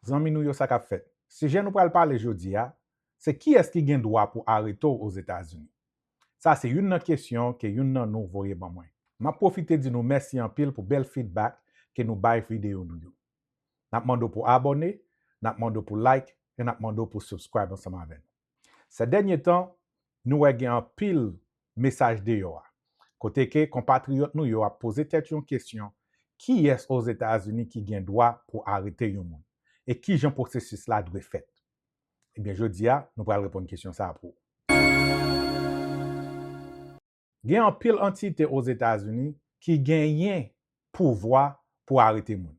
Zanmi nou yo sa kap fèt? Sijè nou pral pale jodi a, se kiyès ki gen dwa pou arete w Ozetazini? Sa se youn nan kesyon ke youn nan nou voye ban mwen. Map pwofite di nou mèsi anpil pou bèl feedback ke nou bay videyo nou yo. Nap mande w pou abòne, nap mande w pou like, e nap mande w pou subscribe ansanm avè nou. Sè dènye tan nou wè gen anpil mesaj deyò a, kote ke konpatriyòt nou yo ap poze tèt yon kesyon, kiyès Ozetazini ki gen dwa pou arete yon moun? E kijan pwosesis la dwe fèt? Ebyen jodi a nou pral reponn kesyon sa a pou ou. Gen anpil antite Ozetazini ki genyen pouvwa pou arete moun.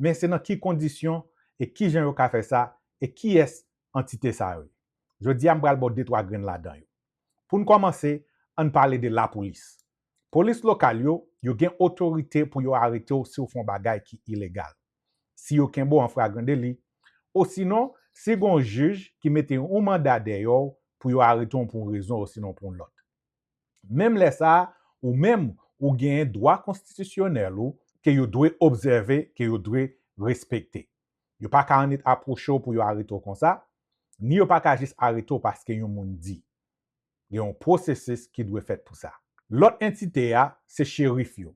Men se nan ki kondisyon e kijan yo ka fè sa e kiyès antite sa yo ye. Jodi a m pral ba w detwa grenn ladan yo. Pou n kòmanse, ann pale de lapolis. Polis lokal yo, yo gen otorite pou yo arete w si w fè yon bagay ki ilegal. si yo kenbe w an fragran deli, osinon si gen yon jij ki mete yon manda dèyè w pou yo arete w pou yon rezon osinon pou yon lòt. Menm lè sa a, ou menm, ou genyen dwa konstitisyonèl ou ke yo dwe obsève, ke yo dwe respekte. Yo pa ka annik apwoche w pou yo arete w konsa, ni yo pa ka jis arete w paske yon moun di. Gen yon pwosesis ki dwe fèt pou sa. Lòt entite a, se cherif yo,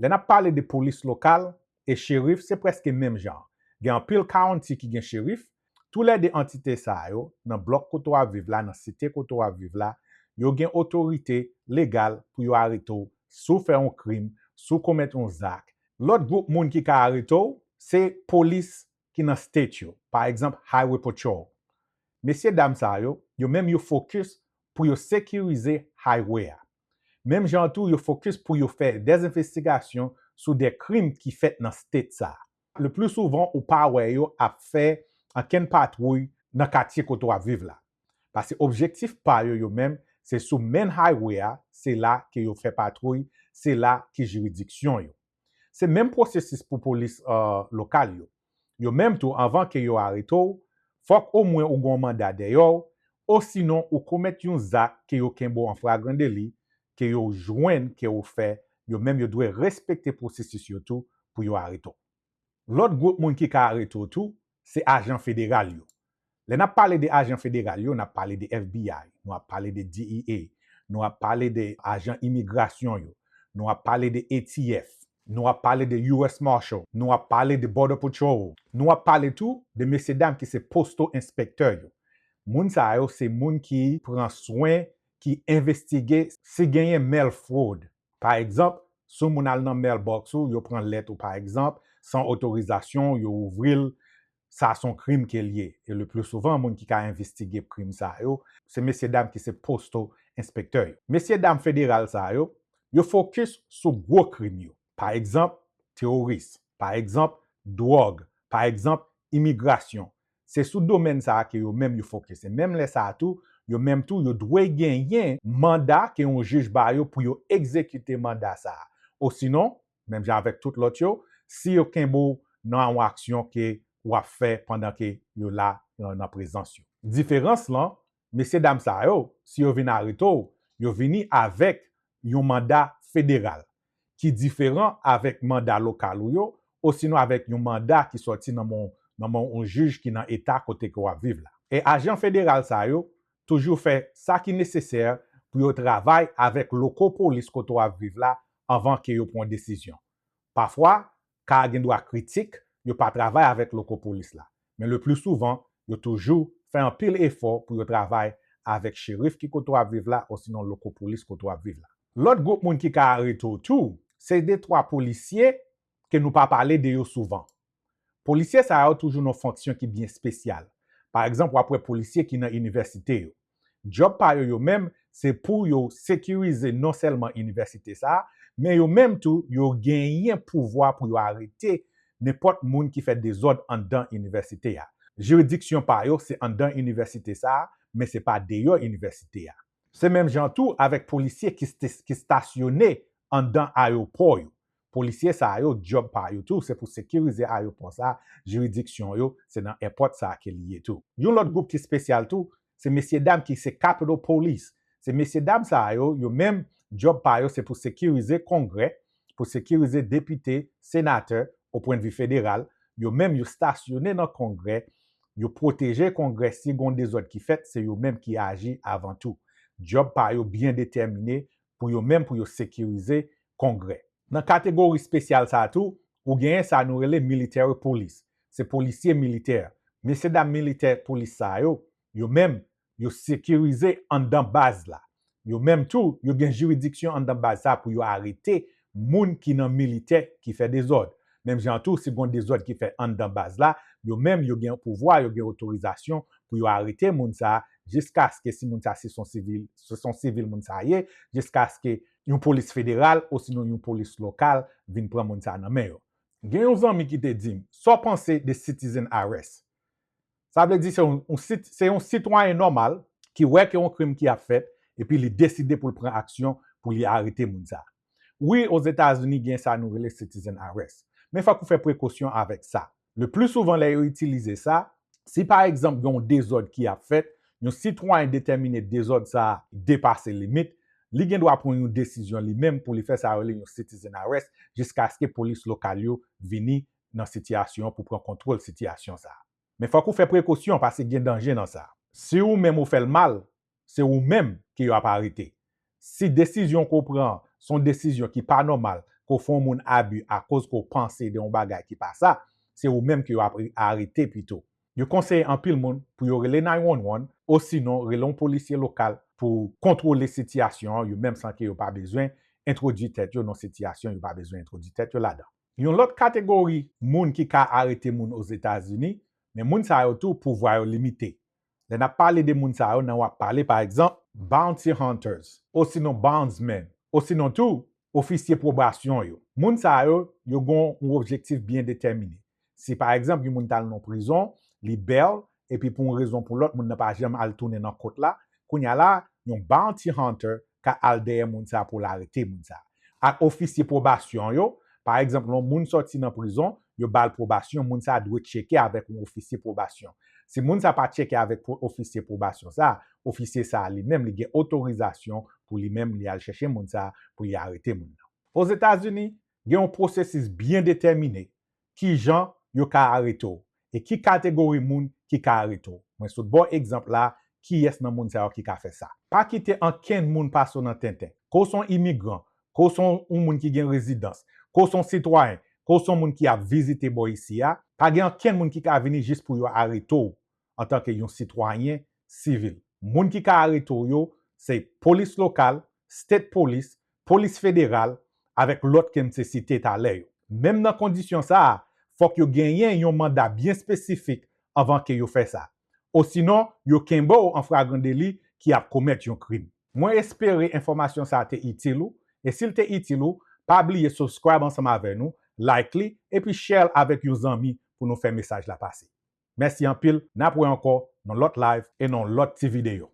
Lè nap pale de polis lokal e cherif se preske menm jan, gen anpil county ki gen cherif, tou lè 2 antite sa yo nan blòk kote wap viv la nan site kote wap viv la yo gen otorite legal pou yo arete w si w fè yon krim, si w komèt yon zak. Lòt gwoup moun ki ka arete w se polis ki nan state yo, pa egzanp Highway Patrol. Mesye dam sa yo, yo menm yo focus pou yo sekirize highway a. Menm jan an tou yo fokis pou yo fè dè envestigasyon sou dè krim ki fèt nan state sa. Le pli souvan ou pa wè yo ap fè ankenn patwouy nan katye kote w ap viv la. Pase objektif pa yo yo menm se sou main highway a se la ke yo fè patwouy se la ki jiridiksyon yo. Se menm pwosesis pou polis lokal yo. Yo menm tou anvan ke yo arete w, fòk omwen ou gon manda dèyè w, osinon ou komèt yon zak ke yo kenbe w an fragran deli, ke yo jwenn ke ou fè, yo menm yo dwe respekte pwosesis yo tou pou yo arete w. Lòt gwoup moun ki ka arete w tou, Se ajan federal yo. Lè n ap pale de ajan federal yo, n ap pale de FBI, nou ap pale de DEA, nou ap pale de ajan imigrasyon yo, nou ap pale de ATF, nou ap pale de US Marshal, nou ap pale de Border Patrol, nou ap pale tou de mesye dam ki se postal inspector yo. Moun sa yo se moun ki pran swen, ki envestige si genyen mail fraude. Pa egzanp, si w moun al nan mailbox ou, yo pran lèt ou pa egzanp, san otorizasyon w, yo ouvri l, sa s on krim ke l ye. E le pli souvan, moun ki ka envistige krim sa yo, se mesye dam ki se postal enspektè yo. Mesye dam federal sa yo, yo fokis sou gwo krim yo. Pa egzanp, teworis. Pa egzanp, dwòg. Pa egzanp, imigrasyon. Se sou domèn sa a ke yo menm yo fokis. E menm lè sa a tou, yo menm tou yo dwe genyen manda ke yon jij ba yo pou yo egzekite manda sa a. Osinon, menm jan avèk tout lòt yo, si yo kenbe w nan yon aksyon ke w ap fè pandan ke yo la nan prezans yo. Diferans lan, mesye dam sa yo, si yo vin arete w, yo vini avèk yon manda federal, ki diferan avèk manda lokal ou yo, osinon avèk yon manda ki sòti nan men yon jij ki nan eta kote ke w ap viv la. E ajan federal sa yo toujou fè sa ki nesesè pou yo travay avèk loko polis kote w ap viv la anvan ke yo pran desizyon. Pafwa, ka a gen dwa kritik yo pa travay avèk loko polis la, men le pli souvan yo toujou fè anpil efò pou yo travay avèk cherif ki kote w ap viv la osinon loko polis kote w ap viv la. Lòt gwoup moun ki ka arete w tou, se detwa polisye ke nou pa pale de yo souvan. Polisye sa yo toujou nan fonksyon ki byen spesyal. Pa egzanp w ap wè polisye ki nan inivèsite yo. Djòb pa yo yo menm se pou yo sekirize non sèlman inivèsite sa a, men yo menm tou yo genyen pouvwa pou yo arete nenpòt moun ki fè dezòd anndan inivèsite a. Jiridiksyon pa yo se anndan inivèsite sa a, men se pa deyò inivèsite a. Se menm jan tou avèk polisye ki stasyone anndan ayewopò yo. Polisye sa yo dyob pa yo tou se pou sekirize ayopò sa, jiridiksyon yo se nan èpòt sa ke li ye tou. Yon lòt gwoup ki spesyal tou se mesye dam ki se Capitol Police, se mesye dam sa yo, yo menm dyob pa yo se pou sekirize kongrè, pou sekirize depite, senatè, o pwen de vi federal, yo menm yo stasyone nan kongrè, yo pwoteje kongrè si gon dezòd ki fèt se yo menm ki aji avan tou. Dyob pa yo byen detèmine, pou yo menm pou yo sekirize Kongrè. Nan kategori spesyal sa a tou, ou genyen sa nou rele military police, se polisye militè. Mesye dam militè police sa yo, yo menm, yo sekirize anndan baz la. Yo menm tou, yo gen jiridiksyon anndan baz sa a pou yo arete moun ki nan militè ki fè dezòd. Menm jan an tou, si gon dezòd ki fè anndan baz la, yo menm yo gen pouvwa, yo gen otorizasyon pou yo arete moun sa jiskaske si moun sa si son sivil, si son sivil moun sa ye, jiskaske yon polis federal osinon yon polis lokal vin pran moun sa nan men yo. Gen yon zanmi ki te di m, sa w panse de citizen arrest? Sa vle di se yon sit se yon sitwayen nòmal ki wè ke yon krim ki ap fèt epi li deside pou l pran aksyon pou li arete moun sa a. Wi Ozetazini gen sa nou rele citizen arrest men fòk ou fè prekosyon avèk sa. Le pli souvan lè yo itilize sa, si pa egzanp gen yon dezòd ki ap fèt, yon sitwayen detèmine dezòd sa a depase limit, li gen dwa pran yon desizyon li menm pou li fè sa yo rele yon citizen arrest jiskaske polis lokal yo vini nan sitiyasyon an pou pran kontwòl sitiyasyon sa a. Men fòk ou fè prekosyon pase gen danje nan sa. Si ou menm ou fè l mal, se ou menm ke yo ap arete. Si desizyon ke w pran an se yon desizyon ki pa nòmal, ke w fè yon moun abi akoz ke w panse de yon bagay ki pa sa, se ou menm ke yo ap arete pito. Yo konseye anpil moun pou yo rele 911 osinon rele yon polisye lokal pou kontwole sitiyasyon an yo menm san ke yo pa bezwen entwodui tèt yo nan yon sitiyasyon yo pa bezwen entwodui tèt yo ladan. Yon lòt kategori moun ki ka arete moun Ozetazini, men moun sa yo tou pouvwa yo limite. Lè n ap pale de moun sa yo nan w ap pale pa egzanp, bounty hunters osinon bondsmen osinon tou ofisye pwobasyon yo. Moun sa yo, yo gen yon objektif byen detèmine. Si pa egzanp yon moun t al nan prizon, li bèl, epi pou yon rezon pou lòt moun nan pa janm al tounen nan kot la, kounya la yon bounty hunter ka al dèyè moun sa pou l arete moun sa. Ak ofisye pwobasyon yo, pa egzanp lè yon moun sòti nan prizon, yo ba l pwobasyon, moun sa dwe tcheke avèk yon ofisye pwobasyon. Si moun sa pa tcheke avèk ofisye pwobasyon sa, ofisye sa li menm li gen otorizasyon pou li menm li al chèche moun sa pou li arete moun nan. Ozetazini, gen yon pwosesis byen detèmine ki jan yo ka arete w e ki kategori moun ki ka arete w. Mwen sot ba w egzanp la kiyès nan moun sa yo ki ka fè sa. Pa kite ankenn moun pase w nan tenten. Ke w se yon imigran, ke w se yon moun ki gen rezidans, ke w se yon sitwayen, ke w se yon moun ki ap vizite bò isi a, pa gen ankenn moun ki ka vini jis pou yo arete w antanke yon sitwayen sivil. Moun ki ka arete w yo se polis lokal, state polis, polis federal avèk lòt ke m te site talè yo. Menm nan kondisyon sa a, fòk yo genyen yon manda byen espesifik anvan ke yo fè sa. Osinon, yo kenbe w an fragran deli ki ap komèt yon krim. Mwen espere enfòmasyon sa a te itil ou, e si l te itil ou, pa bliye subscribe ansanm avè nou, like li, epi share l avèk yon zanmi pou nou fè mesaj la pase. Mèsi anpil, nap wè ankò nan lòt live e nan lòt ti video.